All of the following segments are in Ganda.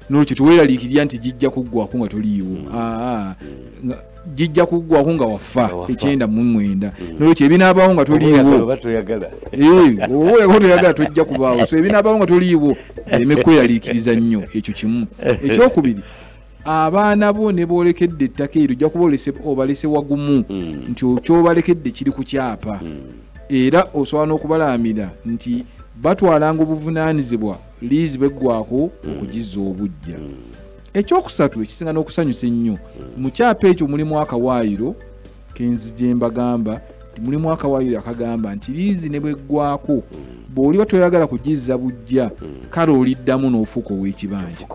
nolwekyo teweraliikirira nti gijja kuggwako nga toliiwo mm. ah, ah. gijja kuggwako nga wafa ekyenda mu mwenda mm. nolwekyo ebinaabawo nga toliiwo oba toyagala eh, tojja kubaawo so ebinaabawo nga toliiwo ereme kweraliikiriza nnyo ekyo kimu ekyokubiri abaana bo ne boolekedde ettaka eryo ojja kuba obalese wagumu mm. nti kyobalkedde kiri ku kyapa era osobola n'okubalaamira nti batwalanga obuvunaanyizibwa liizi bweggwako mm. okugizza obujja mm. ekyokusatu ekisinga n'okusanyusa ennyo mm. mu kyapa ekyo mulimu akawaayiro kenzi gye mbagamba mulimu akawaayiro akagamba nti liizi ne bweggwako bw'oliba toyagala kugizza bujja kale oliddamu n'ofuuka ow'ekibanja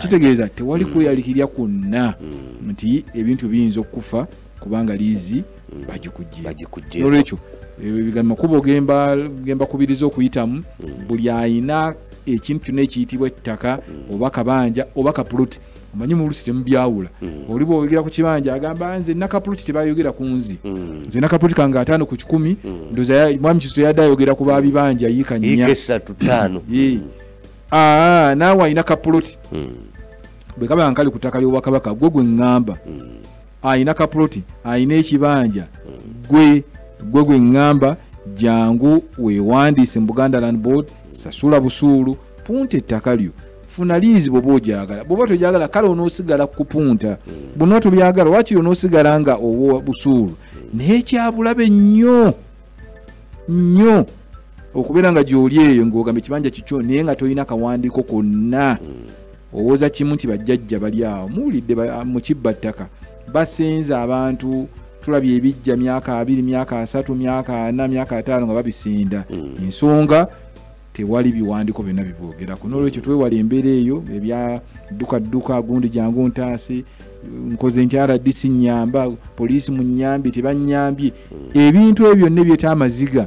kitegeeza tewali kweyalikirya kwonna nti ebintu biyinza okukufa kubanga liizi mm. bagikujje nolwekyo eh, makubo gemba kubiriza okuyitamu mm. buli ayina ekintu kyona ekiyitibwa ettaka mm. oba kabanja oba kapuluti omanyi mulusi temubyawula oli bwogera ku kibanja agamba nze nakapuluti tebayogera ku nzi nze nakapuluti kange ataano ku kikumi ndoza mwami kizito yadde ayogera ku babibanja yiika nnya ah, naawe alina kapuluti bwekaba nkali ku ttaka ly'obwakabaka gwe gwe ŋŋamba alina kapuloti alina ekibanja gwe gwe gwe ŋŋamba jangu weewandiise mu buganda land board sasula busuulu punta ettaka lyo funa liizi bwoba ogyagala bwoba togyagala kale onoosigala kupunta bwona tobyagala wakiri onoosigala nga owa busuulu naye kyabulabe nnyo nnyo okubeera nga gyoli eyo ngaogamba ekibanja kikyo naye nga tolina kawandiiko konna owoza kimu nti bajjajja bali awo muwulidde mu kibba ttaka basenza abantu tulabye ebijja myaka abiri myaka asatu myaka ana myaka ataano nga babisinda mm. ensonga tewali biwandiko byonna bibwogerako nolwekyo twewala embeera eyo ebyadduka dduka gundi jangu ntaasi nkoze nti rdc nyamba poliisi mu nyambi tebanyambye mm. ebintu ebyo byonna ebyeta amaziga